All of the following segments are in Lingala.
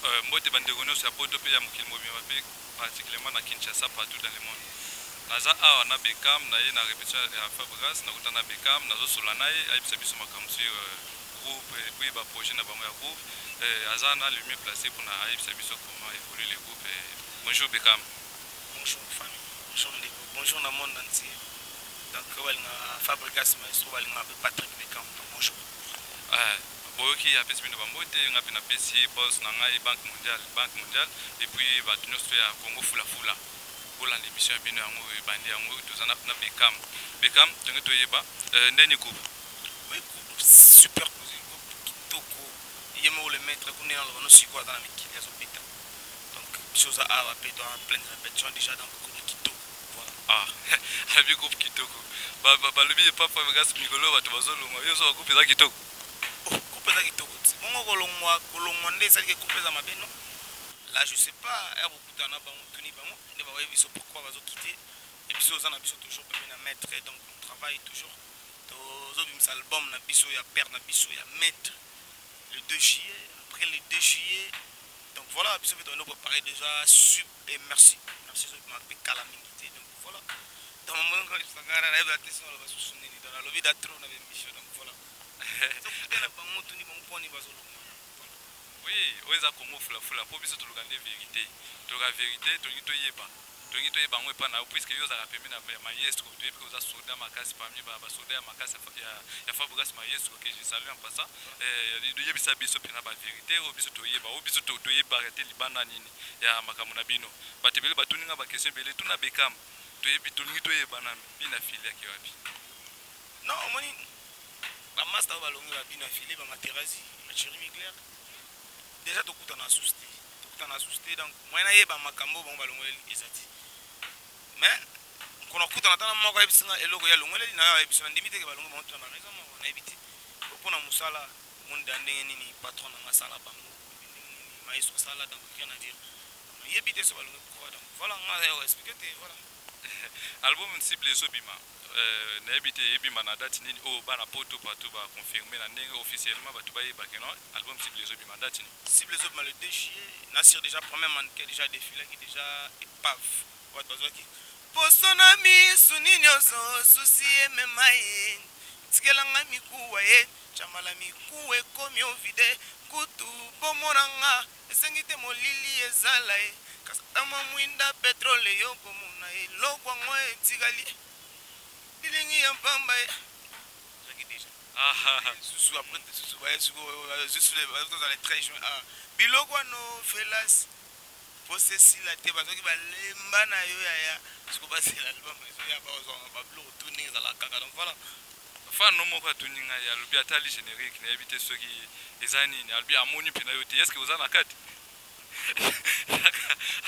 Euh, mbote bandeko nyonso ya poto mpe ya mokili mobimba mpe particulièrement na kinshasa partout dans le monde naza awa na becam na ye na répétition ya fabrigas nakuta na becam nazosola na ye ayebisa biso makambo sur euh, groupe epuis baprojet na bango ya groupe euh, aza na le mieux placé mpona ayebisa biso comment évolue le groupe bonjour becam bonjour famille bonjour ndeko bonjour na monde entier donc oyo balinga fabrigas maestro balinga mpe patrick becam bonjour Boyoki ye apesi bino ba mbote, nga pe na pesi ye bols na ngai banque mondiale, banque mondiale et puis batu nionso to ya Congo fula fula bo landa emission ya bino yango oyo ebandi yango toza na na Beckham, Beckham tonge to yeba euh ndeni group. Oui group super cuisine group kitoko ye moko le maitre kuna ye naloba no sikoyo aza na mikili azo beta donc biso oza awa pe to en pleine repetition dejà donc group kitoko voilà. Ah alobi group kitoko ba ba balobi ye papa vegas mikolo bato bazo longwa yo ozo ba group eza kitoko. Coupe eza kitoko ti bongo kolongwa kolongwa nde esali ke coupe eza mabe non la je sais pas ya bokuta na bango tuni bango nde bakoyebi biso pourquoi bazo kite et biso oza na biso toujours pembe na maître donc on travaille toujours tozobimisa album na biso ya père na biso ya maître le 2 juillet après le 2 juillet donc voilà biso mpe toyende kopare déjà Et merci, merci ezo bima pe kala mingi te donc voilà. Dans mon monde quand il s'agara na ba tesa na ba susu nini dans la lobby da trop na ba émission donc voilà. Donc peut na bango tuni bango poni bazo longa. Oui, oyo eza Congo fula fula po biso toluka nde vérité. Toluka vérité, tolingi toyeba. Tolingi toyeba yango epa na yo puisque yo ozalaka pembeni ya maestro, toyebi ke oza soda makasi parmi ba ba soda ya makasi ya ya Fabregas maestro que je salue en passant. Eh, yebisa biso pena ba vérité oyo biso toyeba, oyo biso toyeba te libanda nini. ya makambo na bino batu ebele batuni nga ba question ebele tuna Beckham toyebi tolingi toyebana mpi na fille ake wapi non omoni ba masta oyo balongi ba bina fille ba materazi ba cheri migler deja tokuta na sous te tokuta na sous te donc moyen na yeba makambo bango balongoleli ezati mais nkona kutana tana moko ayebisi nga eloko ya longoleli na yo ayebisi na ndimi te ke balongo bango tuna ba raison moko na yebiti pona musala Omoni dejà ndenge nini patron na nga asala bango boye ndenge nini maestro asala donc rien à dire nayebi te soki balongwe pourquoi pas donc voilà nga naza ya ko expliquer te voilà. Album cible ezo bima nayebi te ebima na date nini oyo bana poto partout ba confirmer na ndenge officiellement batu bayeba que non album cible ezo bima date nini? Cible ezo bima le 2 juillet, na sur dejà première mannequin dejà a defilaki dejà epave. Bato bazwaki poso na miso nini ozo souci emema ye tikela nga mikuwa ye chamala mikuwa ekomi o vide kutu bomona nga esengi te molili ezala ye kasi ata mwa mwinda petrole yo komona ye eloko yango etikali elilingi ya pamba ye ezwaki deja susu apres susu baye suko zwi sule bazo zala tres juin ah biloko ano felas. posa esila te bazoki balemba na yo yaya siko basela album ezoya bakozwanga babiloko tu ndenge ezalaka kaka donc voilà fan no moko atuni ngai alobi atali générique nayebi te soki eza nini alobi amoni mpena yo te eske oza na kati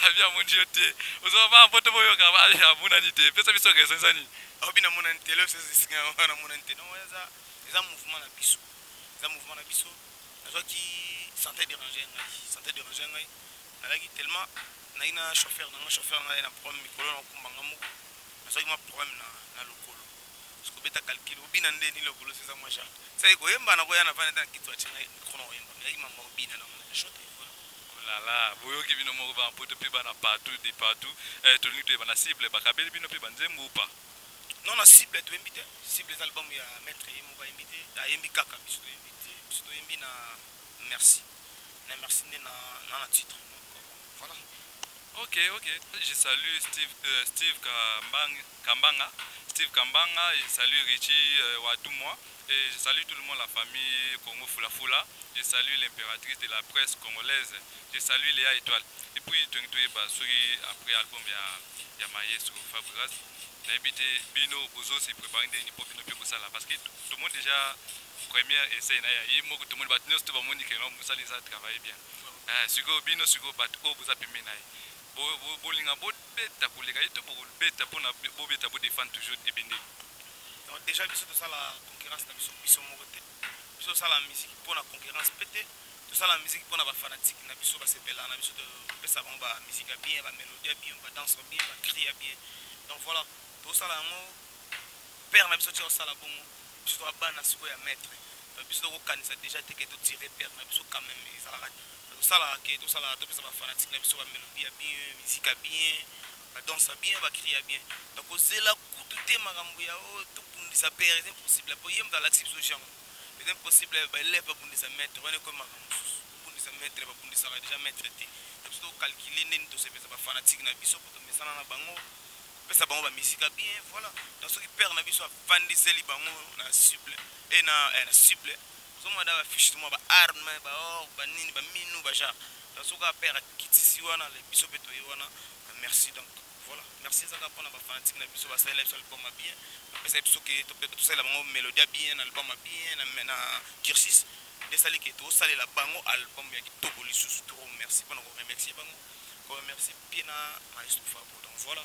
abi amoni yo te ozoba baa mpo te boyoka amonani te pesa biso raison eza nini aobi namonani te leo esika yango namonani te donc eza mouvement na biso eza mouvement na biso nazwaki sante derange ngai sante derange ngai nalaki tellement nayi na chauffeur na ngai chauffeur na ngai na problème mikolo na okumba ngai moko nazwaki mwa problème na, na lokolo sikobeta calcul obina nde ni lokolo seza mwa genre sai koyemba na koya na vana na kitu atinga mikro na koyemba meyaki mama obina na mwana shot olala oh boyoki bino moko bana poto mpe bana partout de partout eh, tolingi toyeba na cible bakabeli bino mpe banzembo upa non na cible toyembi te cible eza album ya maître ye moko ayembi te ayembi kaka biso toyembi te biso toyembi na merci na merci nde na na, na titre donc euh, voilà ok ok je salue steve, euh, steve Kambang, kambanga steve kambanga je salue richie euh, watumwa et je salue tout le monde la famille congo fulafula je salue l'impératrice de la presse congolaise je salue léa étoile et puis toyeba soki après album ya, ya maestro fabrigas nayebi te bino bozo se préparer ndenge nini mpo bino mpe bosala parce que tomoni déjà première essai na ya ye moko tomoni bato nyonso to bamoni ke non mosala eza travaille bien eh, sikoyo bino sikoyo bato oyo boza pembeni na ye bolinga bobeta koleka ye to bobeta mpona bobeta bodefendre toujours ebende déjà biso tosala concurrence na biso biso moko te biso tosala miziki mpo na concurrence mpe te tosala miziki mpo na bafanatike na biso basepela na biso topesa bango bamiziki ya bien bamelodie ya bien badanse ya bien bacri ya bien donc voilà tosala yango père na biso tia osala bongo biso toa bana sikoyo ya maître biso tokokanisa déjà te ke totire père na biso quand même ezalaka tosalaka ke tosalaka topesa bafanatike na biso bamelodie ya bien miziki ya bien Ba dansa bien ba cria bien toko zela kutu te makambo ya oyo oh, to bundisa père c'est impossible po ye mutu alakisi biso genre c'est impossible ba élève ba bundisa maître wana ko makambo mosusu ko bundisa maître ba bundisaka déjà maître te to biso to calculer ndeni to sepesa ba fanatique na biso po to mesana na bango pesa bango ba misika bien voilà donc soki père na biso avandiseli bango na cible et na eh, na cible Ozo mona da ba fiche to mwa ba armes ba or ba nini ba minu ba genre nazo kaka père akitisi wana le biso pe toye wana merci donc voilà merci eza kaka pona ba fanatique na biso basalela biso album ya bien bapesa biso ke tosalela bango melodie ya bien na album ya bien na, na cursus nde esali ke tosalela bango album ya kitoko lisusu toro merci pona ko remercier bango ko remercier pe na maestro fabo donc voilà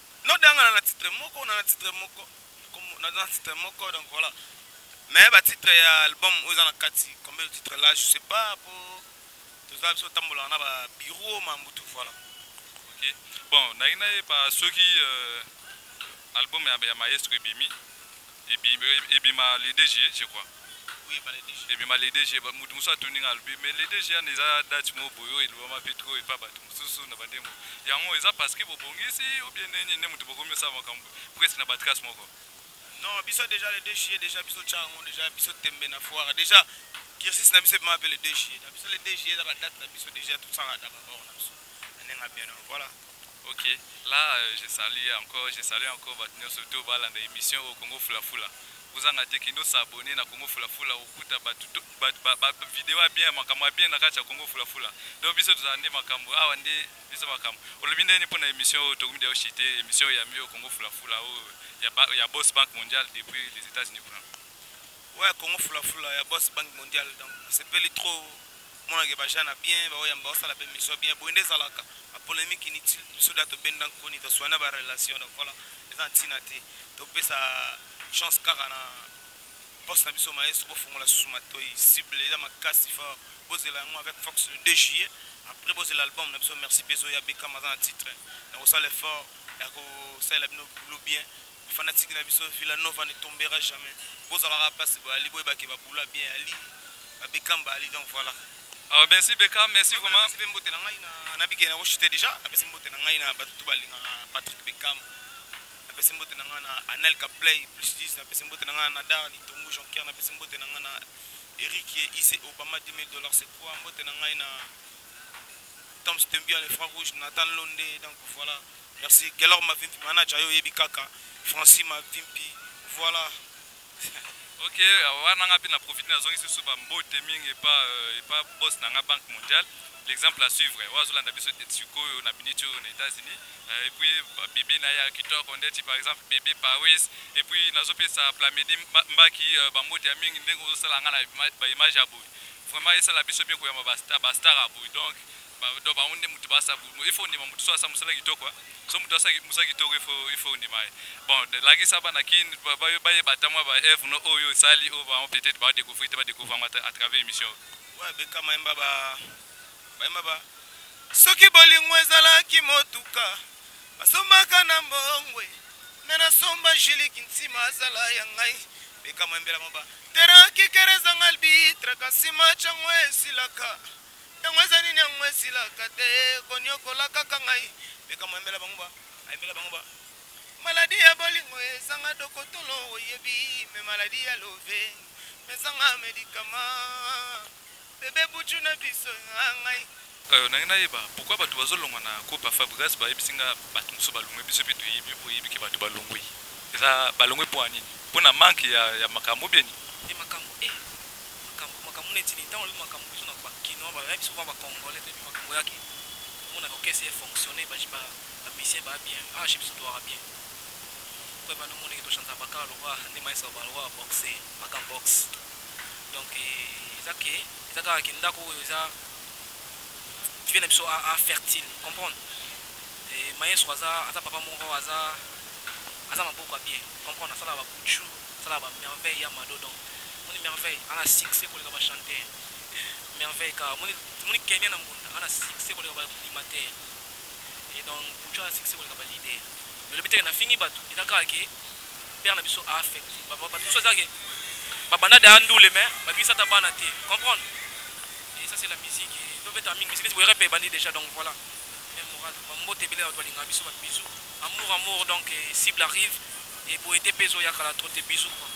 No de yanga na na titre moko na na titre moko na na titre moko donc voilà mais ba titre ya album oyo eza na kati combien de titre là je sais pas po toza biso tambola na ba bureau ma mbutu voilà ok bon na ina ye ba soki euh, album ya, ya maestro ebimi Ebima le DG je crois. Oui, ebima le DG. Ebima le DG, mutu musu atuni nga alobi mais le DG ana eza date mo boyo elobama pe trop epa batu mususu na bande mo. Yango eza parce que bobongisi ou bien nini ne mutu bokomi osala makambo presque na ba trace moko. Non, biso deja le DG deja biso tya yango deja biso tembe na foire deja cursus na biso ebima pe le DG. Na biso le DG eza ba date na biso deja tosala na ba bord na biso. Ndenge na bino voilà. Ok là je salue encore je salue encore batu nionso tout balanda emission au Congo fula fula bozanga te kende s'abonner na Congo fula fula okuta batu ba video ya bien makambo ya bien na kati ya Congo fula fula donc biso tozala nde makambo awa nde biso makambo olobi nde pona emission oyo tokomi de chite emission ya mio Congo fula fula oyo ya ba, ya boss banque mondiale depuis les États-Unis kuna ouais Congo fula fula ya boss banque mondiale donc c'est peli trop Mona ke ba gens na bien ba oyamba osala pe mission bien boye nde zalaka ba polemique inutile biso da to benda nkoni to soigner ba relation donc voilà eza ntina te to pesa chance kaka na poste na biso maestro bo fongola susu matoyi cible eza makasi fort bozela yango avec fox le 2 juillet après bozela album na biso merci pezo ya bekam aza na titre na kosala effort ya kosalela bino boulot bien Ba fanatique na biso Villa Nova ne tombera jamais. Bozalaka pasi boyali boyeba ke ba bula bien ali. Ba Beckham ba ali donc voilà. Ah, merci Beckham, merci vraiment. Merci pe mbote na ngai na na bike na ko chuter déjà. Na pesi mbote na ngai na batu tout balinga Patrick Beckham. Na pesi mbote na ngai na Anelka Play plus 10 na pesi mbote na ngai na Dar Litongu Jean Pierre na pesi mbote na ngai na Eric IC Obama 2000 dollars c'est quoi mbote na ngai na Tom Stembi le franc rouge Nathan Londe donc voilà. Merci Gelor Mavimpi manager yo yebi kaka Francis Mavimpi voilà ok euh, wana nga mpe na profite nazongisi lisusu bambote mingi epa euh, epa boss na nga banque mondiale l'exemple à suivre oyo azolanda biso sikoyo na minute oyo na états-unis euh, epuis bebe na ya kitoko ndeti par exemple bebe paris epuis nazopesa plamedi mbaki bambote ya mingi ndenge ozosala nga na baimage ya boye vraiment esala biso bien koyamba bastar ya boye donc Ba donc bango nde moto basa bu- il faut ondima moto so asa mosala kitoko hein. so moto asa ki- mosala kitoko il faut il faut ondima ye bon de- lakisa bana kin ba- ba- bayeba ata mwa ba eve no oyo osali oyo bango peut-être ba découvrir te ba découvrir yango ata à travers émission oyo. oyo abeka mayemba ba bayemba ba soki bolingo ezalaki motuka basombaka na mbongwe me nasomba jili kintima azala ya ngai beka mayembela moba teraki kerezanga albitre kasi macango esilaka Yango eza nini yango esilaka te koniokola kaka ngai mpe kamwa yembela bango ba ayembela bango ba maladi ya bolingo ezanga dokotolo oyebi me maladi ya love mezanga medikama bebe buju na biso ya ngai Euh, nange nayeba pourquoi bato bazolongwa na groupe ya fabrigas bayebisi nga bato mosusu balongwe biso mpe toyebi oyebi ke bato balongwi eza balongwe mpo ya nini mpo na manke ya, ya makambo bieni ye makambo e eh. makambo makambo neti nini tango lobi makambo biso na ba kinois ba ya biso ba ba congolais toyebi makambo yaki omona ka orchestre e fonctionner ba ba ba musiciens ba bien ah chez biso to yaka bien po ebanda omoni ke to chanta ba kaka lokola nde maestro ba lokola boxe makan boxe donc eza ke eza kaka ke ndako oyo eza vie na biso a a fertile comprendre et maestro aza aza papa moko aza aza maboko ya bien comprendre asala ba boutchou Asala ba merveille ya mado donc moni merveille ana succès koleka ba chanteur merveille ka moni moni Kenya na mbunda ana succès koleka ba animateur et donc Pucho ana succès koleka ba leader mais lobi teke na fingi bato eza kaka ke père na biso a affecté bato biso eza ke babanda da ndule mais babisa ta bana te comprendre et ça c'est la musique to beta mingi musique boyere pe bandi déjà donc voilà même moral mambo te bele bato balinga biso ba bisous amour amour donc cible arrive Et boye te pezo ya kala trop te bisous quoi.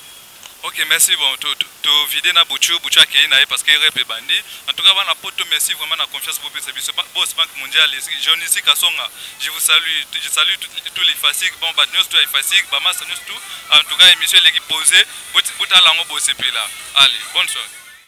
Ok merci bon to to vide na buchu buchu akeyi na ye parce que rep ebandi en tout cas bana poto merci vraiment na confiance bo pesa biso boss banque mondiale Johnny Sika Songa je vous salue je salue tous les fasiques bon ba news tout les fasiques ba massa news tout en tout cas émission leki posée botala ngo bo sepela allez bonne soirée